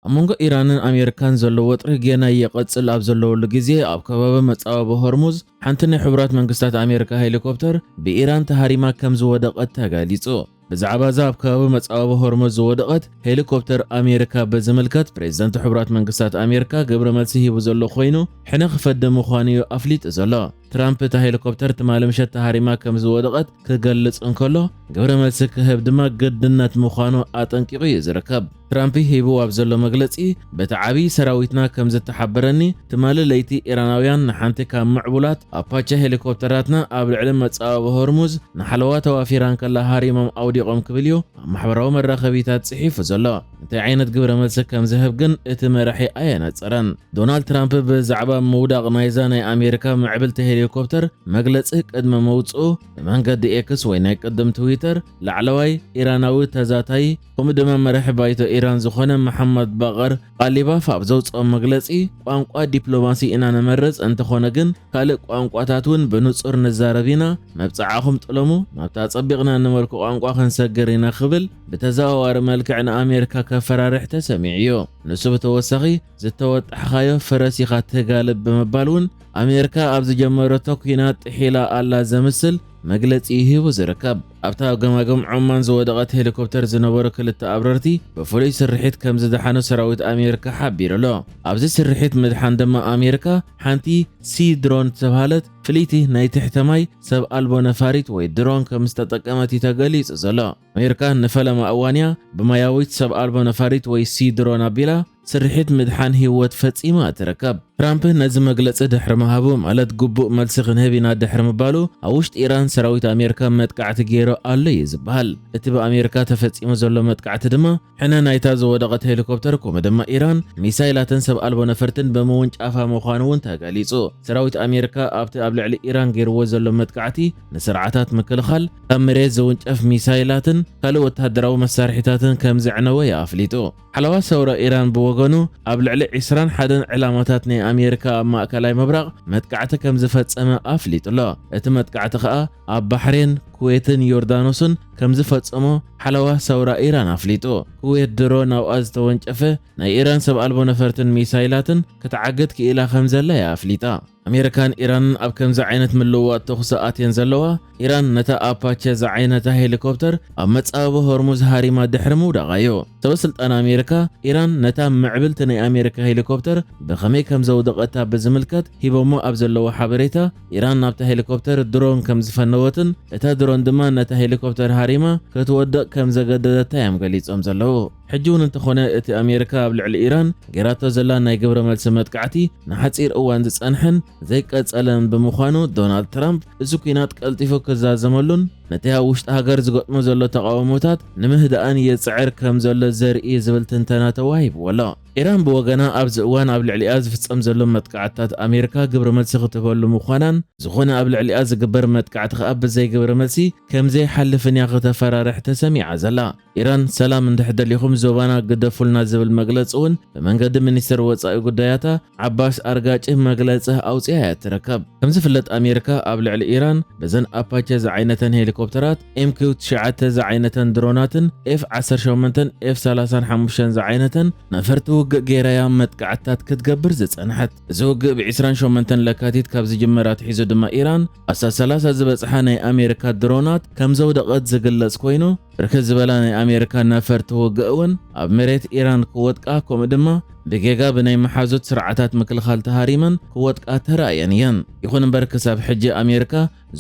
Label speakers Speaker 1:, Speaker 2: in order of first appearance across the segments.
Speaker 1: ኣብ መንጎ ኢራንን ኣሜሪካን ዘሎ ወጥሪ ጌና ይቕጽል ኣብ ዘለወሉ ግዜ ኣብ ከባቢ መጻበቢ ሆርሙዝ ሓንቲ ናይ ሕቡራት መንግስታት ኣሜሪካ ሄሊኮፕተር ብኢራን ተሃሪማ ከም ዝወደቐት ተገሊጹ። ብዛዕባ እዛ ኣብ ከባቢ መጻብቦ ሆርሙዝ ዝወደቐት ሄሊኮፕተር ኣሜሪካ ብዝምልከት ፕሬዝደንት ሕቡራት መንግስታት ኣሜሪካ ግብረ መልሲ ሂቡ ዘሎ ኮይኑ ሕነ ክፈዲ ምዃኑ እዩ ኣፍሊጡ ዘሎ። ትራምፕ እታ ሄሊኮፕተር ትማሊ ምሸት ተሃሪማ ከም ዝወደቐት ክገልጽ እንከሎ ግብረ መልሲ ክህብ ድማ ግድነት ምዃኑ ኣጠንቂቑ እዩ ዝርከብ። ትራምፒ ሂብዎ ኣብ ዘሎ መግለጺ፣ በቲ ዓቢ ሰራዊትና ከም ዝተሓበረኒ፣ ትማሊ ለይቲ ኢራናውያን ንሓንቲ ካብ ምዕቡላት ኣፓቸ ሄሊኮፕተራትና ኣብ ልዕሊ መጻብቦ ሆርሙዝ ንሓለዋ ተዋፊራ እንከላ ሃሪሞም ኣውዲቖም ክብል'ዩ ኣብ ማሕበራዊ መራኸቢታት ጽሒፉ ዘሎ። እንታይ ዓይነት ግብረ መልሲ ከም ዝህብ ግን እቲ መራሒ ኣየነጸረን። ዶናልድ ትራምፕ ብዛዕባ ምውዳቕ ናይዛ ናይ ኣሜሪካ ምዕብልቲ ሄሊኮፕተር መግለጺ ቅድሚ ምውጽኡ፣ ብመንገዲ ኤክስ ወይ ናይ ቅድም ትዊተር ላዕለዋይ ኢራናዊ ተዛታይ፣ ከምኡ ድማ መራሒ ባይቶ ኢራን ዝኾነ መሓመድ ባቐር ቓሊባፍ ኣብ ዘውፅኦ መግለፂ ቋንቋ ዲፕሎማሲ ኢና ንመርፅ እንተኾነ ግን ካልእ ቋንቋታት እውን ብንፁር ንዛረብ ኢና መብፅዓኹም ጥለሙ ናብቲ ኣፀቢቕና እንመልኮ ቋንቋ ክንሰግር ኢና ክብል ብተዘዋዋሪ መልክዕ ንኣሜሪካ ከፈራርሕ ተሰሚዑ እዩ ንሱ ብተወሳኺ ዝተወጣሕኻዮ ፈረስ ኢኻ ትጋልብ ብምባል እውን ኣሜሪካ ኣብ ዝጀመረቶ ኲናት ጥሒላ ኣላ ዘምስል መግለፂ እዩ ሂቡ ዝርከብ ኣብታ ኣብ ገማግም ዖማን ዝወደቐት ሄሊኮፕተር ዝነበሩ ክልተ ኣብረርቲ ብፍሉይ ስርሒት ከም ዝደሓኑ ሰራዊት ኣሜሪካ ሓቢሩ ኣሎ። ኣብዚ ስርሒት ምድሓን ድማ ኣሜሪካ ሓንቲ ሲ ድሮን ዝተብሃለት ፍልይቲ ናይ ትሕተ ማይ ሰብ ኣልቦ ነፋሪት ወይ ድሮን ከም ዝተጠቀመት እዩ ተገሊጹ ዘሎ። ኣሜሪካ ንፈለማ እዋን እያ ብማያዊት ሰብ ኣልቦ ነፋሪት ወይ ሲ ድሮን ኣቢላ ስርሒት ምድሓን ህይወት ፈጺማ ኣይትርከብ። ትራምፕ ነዚ መግለጺ ድሕሪ ምሃቡ፣ ማለት ግቡእ መልሲ ክንህብ ኢና ድሕሪ ምባሉ፣ ኣብ ውሽጢ ኢራን ሰራዊት ኣሜሪካ መጥቃዕቲ ገይሩ ኣሎ እዩ ዝበሃል። እቲ ብኣሜሪካ ተፈጺሙ ዘሎ መጥቃዕቲ ድማ፣ ሕነ ናይታ ዝወደቐት ሄሊኮፕተር ከምኡ ድማ ኢራን ሚሳይላትን ሰብ ኣልቦ ነፈርትን ብምውንጫፋ ምዃኑ እውን ተገሊጹ። ሰራዊት ኣሜሪካ ኣብቲ ኣብ ልዕሊ ኢራን ገይርዎ ዘሎ መጥቃዕቲ፣ ንስርዓታት ምክልኻል፣ ካብ መሬት ዝውንጨፍ ሚሳይላትን ካልእ ወተሃደራዊ መሳርሒታትን ከም ዘዕነወ እዩ ኣፍሊጡ። ሓለዋ ሰውራ ኢራን ብወገኑ፣ ኣብ ልዕሊ ዕስራን ሓደን ዕላማታት ናይ ኣሜሪካ ኣብ ማእከላይ ምብራቕ መጥቃዕቲ ከም ዝፈጸመ ኣፍሊጡ ኣሎ። እቲ መጥቃዕቲ ከኣ ኣብ ባሕሬን፣ ኩዌትን ዮርዳኖስን ከም ዝፈጸሞ ሓለዋ ሰውራ ኢራን ኣፍሊጡ። ኩዌት ድሮ ናብኣ ዝተወንጨፈ ናይ ኢራን ሰብ ኣልቦ ነፈርትን ሚሳይላትን ክትዓግት ክኢላ ከም ዘላ'ያ ኣፍሊጣ። ኣሜሪካን ኢራንን ኣብ ከምዚ ዓይነት ምልውዋጥ ተኹሲ ኣትየን ዘለዋ፣ ኢራን ነታ ኣፓቸ ዝዓይነታ ሄሊኮፕተር ኣብ መጻብቦ ሆርሙዝ ሃሪማ ድሕሪ ምውዳቓ'ዩ። ሰበስልጣን ኣሜሪካ፣ ኢራን ነታ ምዕብልቲ ናይ ኣሜሪካ ሄሊኮፕተር ብኸመይ ከም ዘውደቐታ ብዝምልከት ሂቦሞ ኣብ ዘለዉ ሓበሬታ፣ ኢራን ናብታ ሄሊኮፕተር ድሮን ከም ዝፈነወትን እታ ድሮን ድማ ነታ ሄሊኮፕተር ሃሪማ ክትወድቕ ከም ዘገደደታ'ዮም ገሊጾም ዘለዉ። ሕጂ ውን እንተኾነ እቲ ኣሜሪካ ኣብ ልዕሊ ኢራን ጌራቶ ዘላ ናይ ግብረ መልሲ መጥቃዕቲ ንሓጺር እዋን ዝጸንሐን ዘይቀጸለን ብምዃኑ ዶናልድ ትራምፕ እዚ ኲናት ቀልጢፉ ክዛዘመሉን ነቲ ኣብ ውሽጢ ሃገር ዝገጥሞ ዘሎ ተቓውሞታት ንምህዳእን ይጽዕር ከም ዘሎ ዘርኢ እዩ ዝብል ትንተና ተዋሂብዎ ኣሎ። ኢራን ብወገና ኣብዚ እዋን ኣብ ልዕሊኣ ዝፍጸም ዘሎ መጥቃዕትታት ኣሜሪካ ግብረ መልሲ ክትህበሉ ምዃናን ዝኾነ ኣብ ልዕሊኣ ዝግበር መጥቃዕቲ ከኣ ብዘይ ግብረ መልሲ ከምዘይሓልፍን እያ ክተፈራርሕ ተሰሚዓ ዘላ። ኢራን ሰላም እንድሕ ደሊኹም ዞባና ግደፉልና ዝብል መግለፂ እውን ብመንገዲ ሚኒስትር ወፃኢ ጉዳያታ ዓባስ ኣርጋጭ መግለፂ ኣውፅኣ እያ ትርከብ። ከምዝፍለጥ ኣሜሪካ ኣብ ልዕሊ ኢራን በዘን ኣፓቸ ዝዓይነተን ሄሊኮፕተራት፣ ኤምኪው ትሽዓተ ዝዓይነተን ድሮናትን ኤፍ ዓሰርተ ሸሞንተን ኤፍ ሰላሳን ሓሙሽተን ዝዓይነተን ነፈርቲ ውግእ ገይራ እያ መጥቃዕትታት ክትገብር ዝፀንሐት። እዚ ውግእ ብ ዕስራን ሸሞንተን ለካቲት ካብ ዝጅመር ኣትሒዙ ድማ ኢራን ኣስታት ሰላሳ ዝበጽሓ ናይ ኣሜሪካ ድሮናት ከምዘውደቐት ዝግለጽ ኮይኑ፣ ብርክት ዝበላ ናይ ኣሜሪካ ነፈርቲ ውግእ እውን ኣብ መሬት ኢራን ክወድቃ ከምኡ ድማ ብጌጋ ብናይ መሓዙት ስርዓታት ምክልኻል ተሃሪመን ክወድቃ ተራእየን እየን። ይኹን እምበር ክሳብ ሕጂ ኣሜሪካ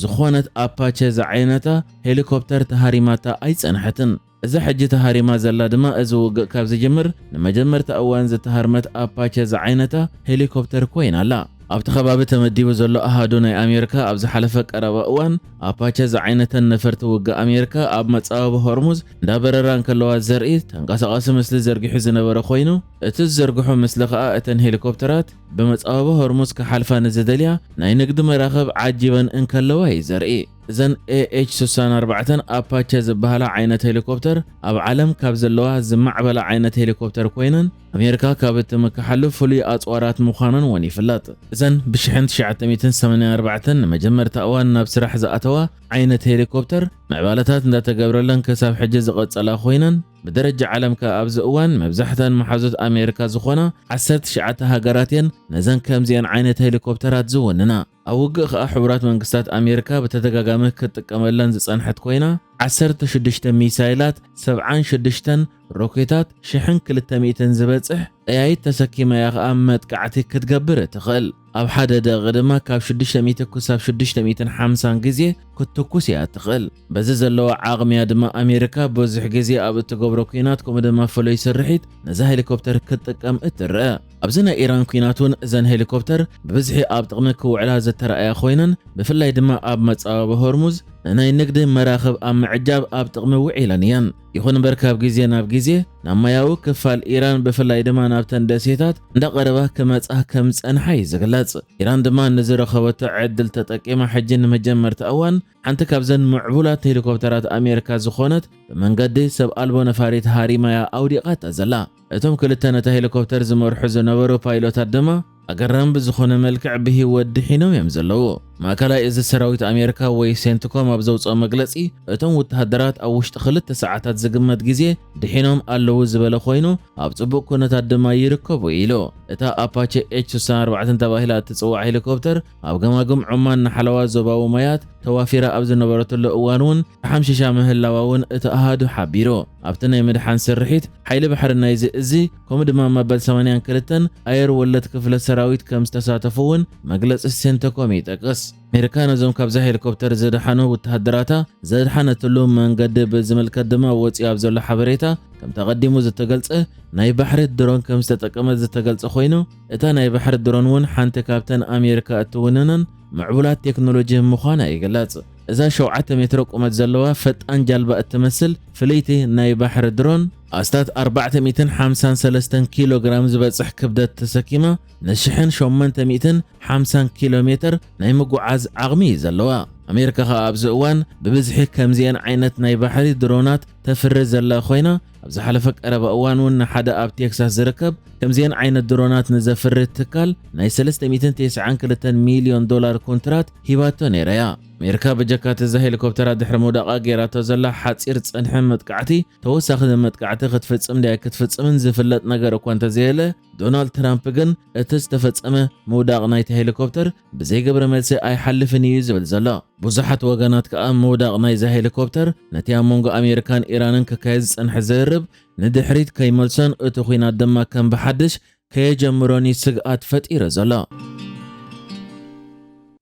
Speaker 1: ዝኾነት ኣፓቸ ዝዓይነታ ሄሊኮፕተር ተሃሪማታ ኣይጸንሐትን። እዛ ሕጂ ተሃሪማ ዘላ ድማ እዚ ውግእ ካብ ዝጅምር ንመጀመርታ እዋን ዝተሃርመት ኣፓቸ ዝዓይነታ ሄሊኮፕተር ኮይና ኣላ። ኣብቲ ከባቢ ተመዲቡ ዘሎ ኣሃዱ ናይ ኣሜርካ ኣብ ዝሓለፈ ቀረባ እዋን ኣፓቸ ዝዓይነተን ነፈርቲ ውግእ ኣሜርካ ኣብ መጻብብ ሆርሙዝ እንዳበረራ እንከለዋ ዘርኢ ተንቀሳቓሲ ምስሊ ዘርጊሑ ዝነበረ ኮይኑ እቲ ዝዘርግሖ ምስሊ ከኣ እተን ሄሊኮፕተራት ብመጻብብ ሆርሙዝ ክሓልፋ ንዝደልያ ናይ ንግዲ መራኽብ ዓጂበን እንከለዋ እዩ ዘርኢ። እዘን ኤኤች ስሳን ኣርባዕተን ኣፓቸ ዝበሃላ ዓይነት ሄሊኮፕተር ኣብ ዓለም ካብ ዘለዋ ዝማዕበላ ዓይነት ሄሊኮፕተር ኮይነን ኣሜሪካ ካብ እትምክሓሉ ፍሉይ ኣፅዋራት ምዃነን እውን ይፍለጥ። እዘን ብሽሕን ትሽዓተ ሚእትን ሰማንያን ኣርባዕተን ንመጀመርታ እዋን ናብ ስራሕ ዝኣተዋ ዓይነት ሄሊኮፕተር ምዕባለታት እንዳተገብረለን ክሳብ ሕጂ ዝቐፀላ ኮይነን ብደረጃ ዓለም ከ ኣብዚ እዋን መብዛሕተን መሓዙት ኣሜሪካ ዝኾና ዓሰርተ ትሽዓተ ሃገራት እየን ነዘን ከምዚኤን ዓይነት ሄሊኮፕተራት ዝውንና። ኣብ ውግእ ከኣ ሕቡራት መንግስታት ኣሜርካ ብተደጋጋሚ ክትጥቀመለን ዝጸንሐት ኮይና፣ ዓሰርተ ሽዱሽተ ሚሳይላት፣ ሰብዓን ሽዱሽተን ሮኬታት፣ ሽሕን ክልተ ሚእትን ዝበጽሕ ጠያይት ተሰኪማ እያ ከኣ መጥቃዕቲ ክትገብር እትኽእል። ኣብ ሓደ ደቒቕ ድማ ካብ ሽዱሽተ ሚእቲ ክሳብ ሽዱሽተ ሚእትን ሓምሳን ግዜ ክትትኩስ እያ እትኽእል። በዚ ዘለዋ ዓቕሚ እያ ድማ ኣሜርካ ብዙሕ ግዜ ኣብ እትገብሮ ኩናት ከምኡ ድማ ፍሉይ ስርሒት ነዛ ሄሊኮፕተር ክትጥቀም እትረኣ። ኣብዚ ናይ ኢራን ኲናት እውን እዘን ሄሊኮፕተር ብብዝሒ ኣብ ጥቕሚ ክውዕላ ዝተራእያ ኮይነን፣ ብፍላይ ድማ ኣብ መጻብቦ ሆርሙዝ ንናይ ንግዲ መራኽብ ኣብ ምዕጃብ ኣብ ጥቕሚ ውዒለን እየን። ይኹን እምበር ካብ ግዜ ናብ ግዜ ናብ ማያዊ ክፋል ኢራን ብፍላይ ድማ ናብተን ደሴታት እንዳቐረባ ክመጻ ከም ዝጸንሓ እዩ ዝግለጽ። ኢራን ድማ ንዝረኸበቶ ዕድል ተጠቂማ ሕጂ ንመጀመርታ እዋን ሓንቲ ካብዘን ምዕቡላት ሄሊኮፕተራት ኣሜሪካ ዝኾነት ብመንገዲ ሰብ ኣልቦ ነፋሪት ሃሪማ'ያ ኣውዲቓታ ዘላ። እቶም ክልተ ነታ ሄሊኮፕተር ዝመርሑ ዝነበሩ ፓይሎታት ድማ ኣገራሚ ብዝኾነ መልክዕ ብህይወት ድሒኖም እዮም ዘለዉ። ማእከላይ እዚ ሰራዊት ኣሜሪካ ወይ ሴንትኮም ኣብ ዘውጽኦ መግለጺ እቶም ውተሃደራት ኣብ ውሽጢ ክልተ ሰዓታት ዝግመት ግዜ ድሒኖም ኣለዉ ዝበለ ኮይኑ ኣብ ጽቡቕ ኩነታት ድማ ይርከቡ ኢሉ። እታ ኣፓቸ ኤች ስሳን ኣርባዕተን ተባሂላ እትጽዋዕ ሄሊኮፕተር ኣብ ገማግም ዖማን ንሓለዋ ዞባዊ ማያት ተዋፊራ ኣብ ዝነበረትሉ እዋን'ውን ተሓምሺሻ ምህላዋ'ውን እቲ ኣሃዱ ሓቢሩ። ኣብቲ ናይ ምድሓን ስርሒት፣ ሓይሊ ባሕሪ ናይዚ እዚ ከምኡ ድማ መበል ሰማንያን ክልተን ኣየር ወለድ ክፍለ ሰራዊት ከም ዝተሳተፉ'ውን መግለጺ ሴንተኮም ይጠቅስ። ኣሜሪካ ነዞም ካብዛ ሄሊኮፕተር ዝደሓኑ ውተሃደራታ ዘድሓነትሉ መንገዲ ብዝምልከት ድማ ወጺኡ ኣብ ዘሎ ሓበሬታ ከምቲ ኣቐዲሙ ዝተገልጸ ናይ ባሕሪ ድሮን ከም ዝተጠቀመት ዝተገልጸ ኮይኑ፣ እታ ናይ ባሕሪ ድሮን እውን ሓንቲ ካብተን ኣሜሪካ እትውንነን ምዕቡላት ቴክኖሎጂ ምዃና ይግለጽ። እዛ ሸውዓተ ሜትሮ ቁመት ዘለዋ ፈጣን ጃልባ እትመስል ፍልይቲ ናይ ባሕሪ ድሮን፣ ኣስታት ኣርባዕተ ሚእትን ሓምሳን ሰለስተን ኪሎ ግራም ዝበጽሕ ክብደት ተሰኪማ ንሽሕን ሸሞንተ ሚእትን ሓምሳን ኪሎ ሜተር ናይ ምጉዓዝ ዓቕሚ እዩ ዘለዋ። ኣሜሪካ ከኣ ኣብዚ እዋን ብብዝሒ ከምዚኤን ዓይነት ናይ ባሕሪ ድሮናት ተፍሪ ዘላ ኮይና፣ ኣብ ዝሓለፈ ቀረባ እዋን እውን ንሓደ ኣብ ቴክሳስ ዝርከብ ከምዚኤን ዓይነት ድሮናት ንዘፍሪ ትካል ናይ 392 ሚልዮን ዶላር ኮንትራት ሂባቶ ነይራ እያ። ኣሜሪካ በጀካ እዛ ሄሊኮፕተራት ድሕሪ ምውዳቓ ገይራቶ ዘላ ሓፂር ፀንሒ መጥቃዕቲ ተወሳኺ መጥቃዕቲ ክትፍፅም ድያ ኣይክትፍፅምን ዝፍለጥ ነገር እኳ እንተዘየለ ዶናልድ ትራምፕ ግን እቲ ዝተፈፀመ ምውዳቕ ናይቲ ሄሊኮፕተር ብዘይ ግብረ መልሲ ኣይሓልፍን እዩ ዝብል ዘሎ። ብዙሓት ወገናት ከኣ ምውዳቕ ናይዛ ሄሊኮፕተር ነቲ ኣብ መንጎ ኣሜሪካን ኢራንን ክካየድ ዝጸንሐ ዝርርብ ንድሕሪት ከይመልሶን እቲ ኲናት ድማ ከም ብሓድሽ ከየጀምሮን እዩ ስግኣት ፈጢሩ ዘሎ።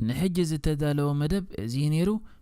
Speaker 2: ንሕጂ ዝተዳለወ መደብ እዚ እዩ ነይሩ።